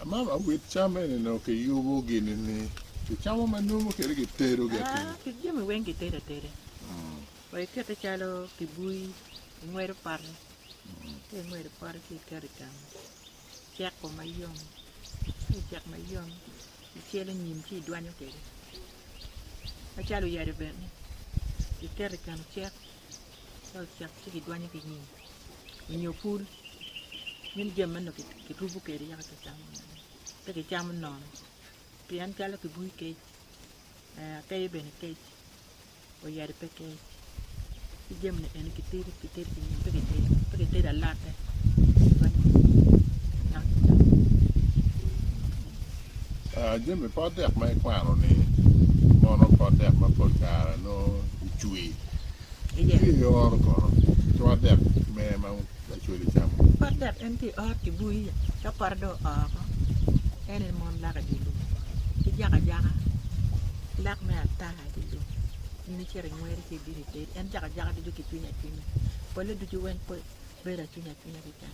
Mama wit cam eni nongo kiyubo gini ni kicamo ma numu kede kitedo ki atir. Ah, ki jami weng kitedo ateda. Wa ikete calo kibui, ingwedo pote. Ka ingwedo pote ci iketo i kama. Ceko mayom. Ka ocek mayom, icelo nyim ci idwanyo kwede. Macalo oyade bene, iketo i kama cek. Cek ci kidwanyo ki nyim onyo pul meno jami meno kirubo kwede yaka kicamo mada pe kicamo nono pien calo kibui kec akeyo bene kec oyadi pe kec ci jami ni eni kitedo ki nyim pe kitedo alate kidwanyo ki nyim yaka kicamo. Jami pot dek ma ikwano ni mono pot dek ma pol kare nongo icwi Ci eoro kono ki wat dek mere ma lacwale camo. Wat dek en tye i ot ki bui, ka pote dong oo oko, en aye mon lak i dye lum ki jako ajaka, lak me ata i dye lum. In icito ingweri ci ibino itedi, en jako ajaka ducu kicwiny acwinya, pole ducu weng bedo acwinya acwinya keken.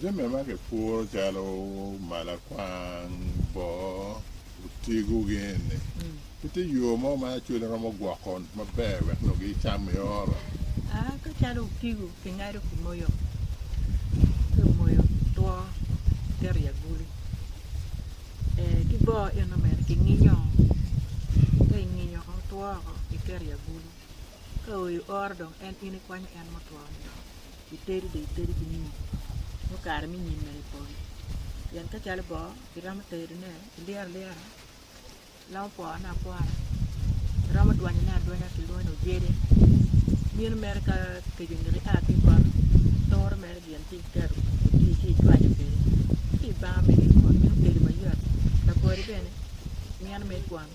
Jami ma kipuro calo malakwang, boo, otigo gin ni pe tye yo mo ma lacwale romo gwoko maber wek nongo gicam i oro? Aa ka calo otigo kingado kimoyo ka omoyo two kiketo i agulu ee ki boo eno bene kinginyo ka inginyo two woko kiketo i agulu Ka oyo oro dong en in ikwanyo en mutwo ni dong itedi dong itedi ki nyim nyo kare me nyim mene ipol pien ka calo bongo iromo tedone ilyero alyera iromo pwone apwona iromo dwanyone adwanya kilwongo ni ojede mino mere ka keco oneko ia ki i koti turo mere gin ci iketo oti ci icwanyo kwede ci ibano mere mot meno tedo mayot labwodi bene mino mere ikwano.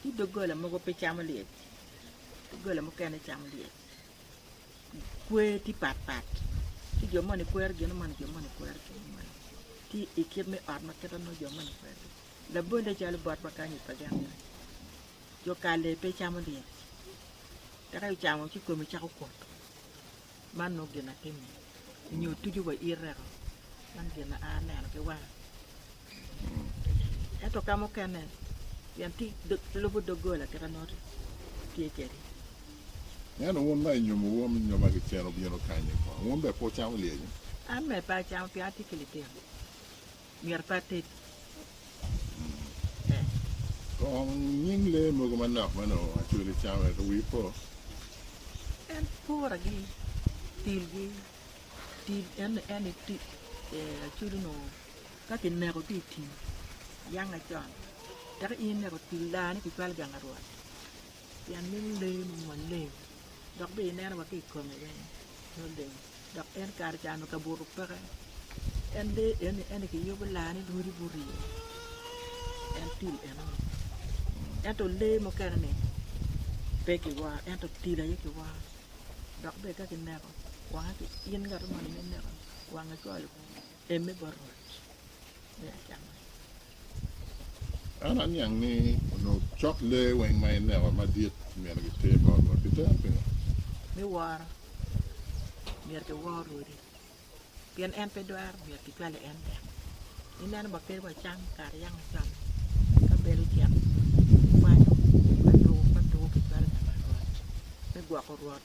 Ci doggola mogo pe camo lyec, doggola mukene camo lyec. Kwer tye pat pat, ci jo moni kwero gin moni, jo moni kwero gin moni. Tye i kit me ot ma kite ma jo moni kwero gin. Labolle calo bot ma kany i Paganni, jo kalle pe camo lyec, eka ocamo ci kome cako kuto. man nongo gin atimo nyo tucu wa ireko man gin ma an aneno ki wanga ento ka mukene pien tye lubo dogola tika nongo tye kedi. Ento wun ma inyomo wun nyoma ki cen wubino kanyi kono wun bene pe wucamo lyecci? An bene pe acamo pien atye ki litino. myero pe ated. Kong nying lee mogo manok ma nongo acwele camo wek wi po? En puragi, tilgi, til en en acwele onongo ka kineko ki i tim yanga con, tek ineko til daa-ni kicwalo gang arwot. Pien meno lee mo maleng, dok bene ineno wa ki i kome bene nongo leng, dok en kare ca onongo kabuto peke. En lee eni en kiyubo laa ni lwodi gurye, en til enoni. Ento lee mukene-ni pe kiworo ento til aye kiworo dok bene ka kineko wange, in ngat ma ineno ineko wangi cwalo. Eme bot Rwot, me acama. An aniang ni onongo cok lee weng ma ineko madit myero giter bot Rwot. Pi tera pingo? Me woro, myero kiwor Rwodi, pien en pe dwaro, myero kicwale en bene. Ineno ba kadi wacam kare yam wacamo, ka bel ocek, wakwanyo, ka tuku, ka tuku kicwalo pi bot Rwot, me gwoko Rwot.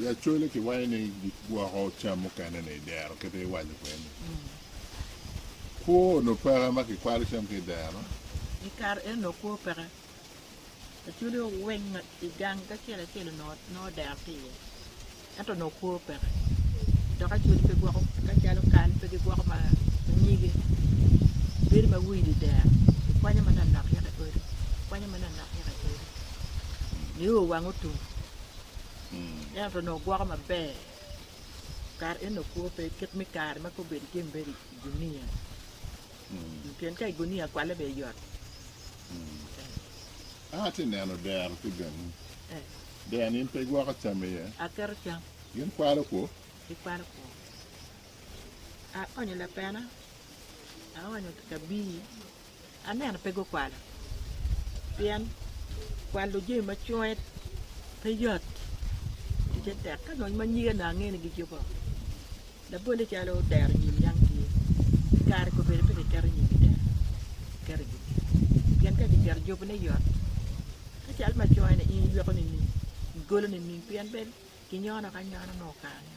I Acholi kiwaco ni gigwoko cam mukene ni i dero kit ma iwaco kwede-ni. Kwo onongo peke ma kikwalo cam ki i dero? I kare eno onongo kwo peke. Acholi owiny ma i gang acel acel onongo dero tye iye ento onongo kwo peke. Dok Acholi pe gwoko ka calo kal pe gigwoko ma nyige. Bedo ma wide i dero kikwanyo manok nok yaka i odi, kikwanyo manok nok yaka i odi. nio wang otum ento onongo gwoko maber kare eno kwo pe kit me kare ma kong bedo jami mere i gunia pien ka i gunia kwale bene yot an atye neno dero ki gangi dero ni in pe igwoko cam iye aketo cam gin kwalo kwo gikwalo kwo aonyo lapena aonyo kabii aneno pe gukwalo pien kwalo jami ma cwonge pe yot ticce tek ka dong ma nyige onongo ange ni gijuko labolle calo dero nyim niang tye kare ko bedo pe kiketo nyim i dero kiketo i jubi pien ka kiketo i jubi ne yot ka cal ma cwonge ni in iyweko nining igolo nining pien pe kinyono ki anyona nongo kare ne.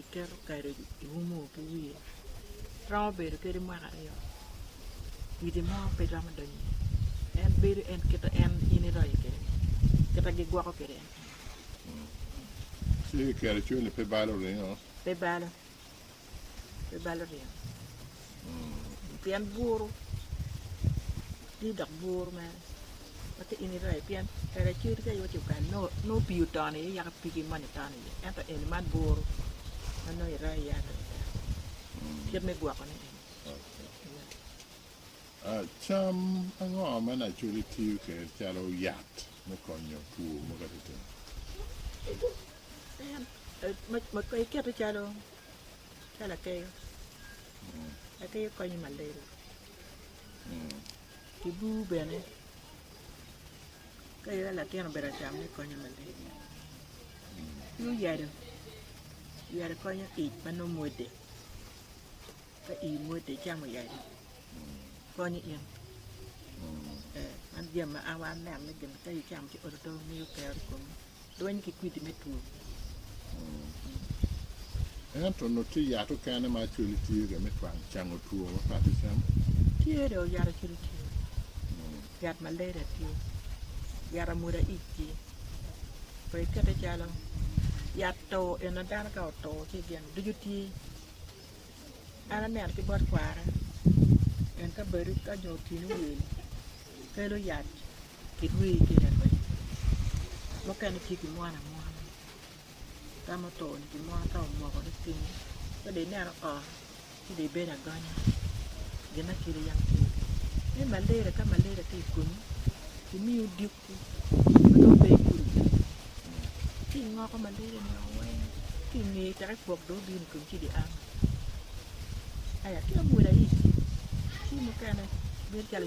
iketo kado iumo ki wiye romo bedo kadi mwaka aryo kwidi mo pe romo donyo iye en bedo en kita en in iroyo kwede kita gigwoko kwede en kene ci kiketo cwinyi pe balo ringo pe balo pe balo ringo pien buru tye dok buru mere ma ka in irayo pien kare acel tye kaywe ci okanni nongo nongo pii oton iye yaka pigi moni ton iye ento eni man buru ma nongo irayo iye aryo adek kit me gwokone eni ya Cam ango ma Nacoli tiyo kwede calo yat me konyo two mogo adada? en ma ma ka ikete calo Ka lakeyo, lakeyo konyo ma lelo ki bur bene ka ira latin obedo acamone konyo ma lelo ki oyado, oyado konyo ic ma nongo mwode ka ii mwode icamo oyado konyo in ee meno jami ma an aneno ni gin ka icamo ci oto oto miyo kero i komi. Lweny ki kwidi me two. Ento onongo tye yat okene ma actually tye ga me twang cango two ma pat icamo? Tye do yat actually tye. Yat malaria tye. Yat amwoda ic tye. Pe ikete calo yat to en na dano ka oto ci gin ducu tye. An aneno ki bot kwara en ka badi ka nyo otino wil kelo yat ki dwe kene adwena mukene tye ki mwana mwana ka ma oto ni ki mwan ka omoko ni piny ka dong ineno oo ci dong ibedo agonya gin ma kelo yam tye iye me malaria ka malaria tye ikonyi ki miyo odiko ma dong pe ikulu bene ci ingoko malaria ni oo weng ki ingeye tek ikwok dong obino ikonyi ci dong iamo aya ki amwoda ic ci mukene bedo calo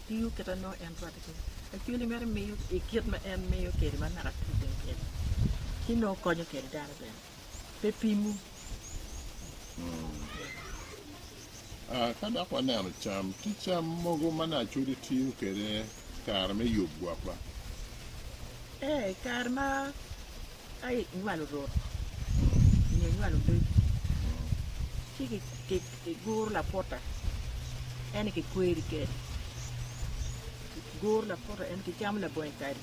Tiyo kit ma nongo en rwatte kwede. Lacweli mere miyo i kit ma en miyo kwede ma naka tiyo bene kwede. Ci nongo konyo kwede dano bene. Pe pimu. Ka dok waneno cam, tye cam mogo ma nongo Acweli tiyo kwede i kare me yub gwokwa? Ee, i kare ma. Aye inywalo rot nyo inywalo leb, ci kiguro lapota ene kikweri kede, kiguro lapota ene kicamo labongi kade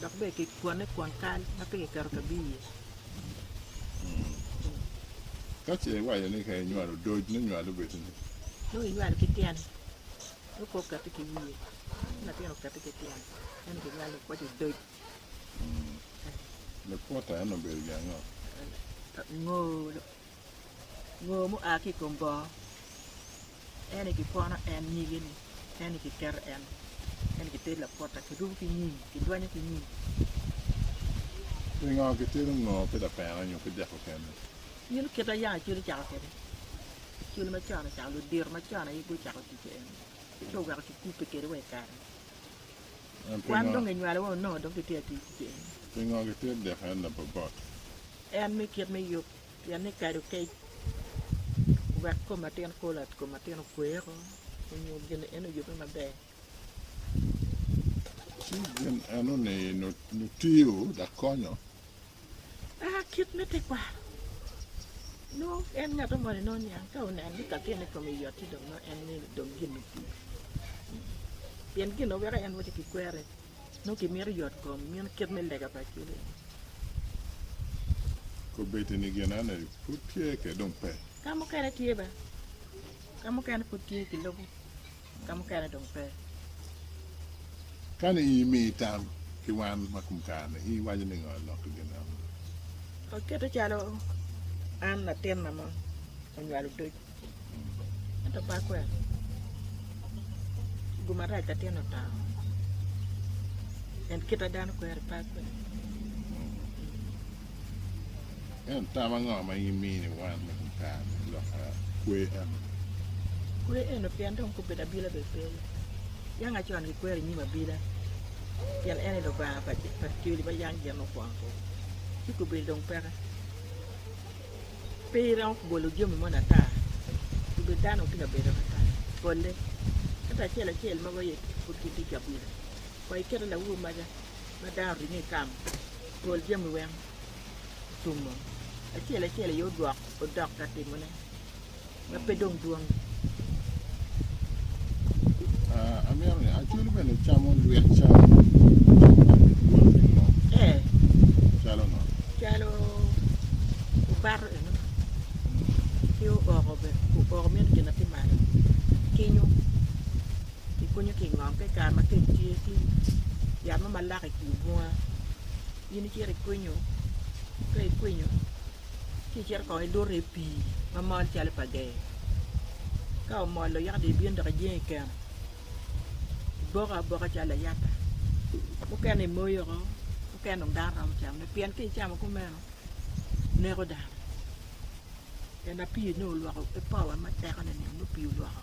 dok bene kikwone kwon kal ma pe kiketo kabi iye. Ka ce iwaco ni ka inywalo odoc nongo inywalo obed nini? Nongo inywalo ki tyene, nongo pe okati ki wiye, ci latin okati ki tyene, ene kinywalo waco odoc. Lakwota eno obedo gin ango? Ngo, ngo mua ki i kom bongo. En aye kikwono en nyige ni, en aye kiketo en, en aye kitedo lakwota, kirubo ki nyim, kidwanyo ki nyim. Pingo kitedo ngo ki lapena nyo ki dek okene? In kit ma yam acwali ocako kwede, acwali macon ocako, ludito macon aye gucako tic kwede eno, ci oweko kikubbe kwede wa i kare-ni. Wan dong enywalowa onongo dong kitye atic cen. Pingo gitye dek en labobot? En me kit me yub pien ni kado kec wek kom atin kolo kom atin okwe oko onyo gin en oyube maber. Ci gin eno ni nutiyo dok konyo. Aa kit me tekwaro, nongo en ngat ongone nongo niang ka oneno ni kakene kome yot ci dong nongo en mene dong gin otii. Pien gin weko en waco kikwere nongo kimito yot kom meno kit me lega pa cwiny en. Kobedi ni gin ane pud tye ke dong pe. Ka mukene tye ba. Ka mukene pud tye kilubo. ka mukene dong pe. Kani in imiyi tam ki wan ma kum kare-ni, in iwaco ni ngo lok ki gin eno? Akete calo an latin ma ma onywalo odoc, ento ba kwena, gu marac latin otamo, en kite dano kweri pe akwena. Ento tam ango ma in imini wan me dul kare me lok kwe eno? Kwe eno pien dong kop bedo abila bene pe iye. Yanga con kikwero i nyim abila pien en ni Lubanga pa Acoli ma yam gin mukwongo kwo. Ci kobedi dong peke. Pe iromo ki bolo jami moni ata. Kobedi dano tye ka bedo ata pole. Ento acel acel mogo aye pud gitye cabila. Wa iketo lawobi maca ma dano oringo i kang pol jami weng otumo acel acel aye odwok odok ka timone ma pe dong dwong. Ah, amito ni acwelo bene camo lwet cam calo ringo Ee, calo ngo calo obato eno ki ooko bene, ooko mito gin ma tye malo, kinyo. Kikunyo ki i ngom ka i kare ma kec tye, ci yat mo malak i kin bunga in icito ikwinyo, ka ikwinyo ci icito kong iluto i pii ma mol calo pa gee, ka omollo yaka dong ibino dok ijing i keno, iboko aboka calo layata, mukene imoyo oko, mukene dong dano romo camone pien ka icamo kumeno neko dano, pien ma pii nongo olwoko ki powa ma tekone-ni nongo pii olwoko.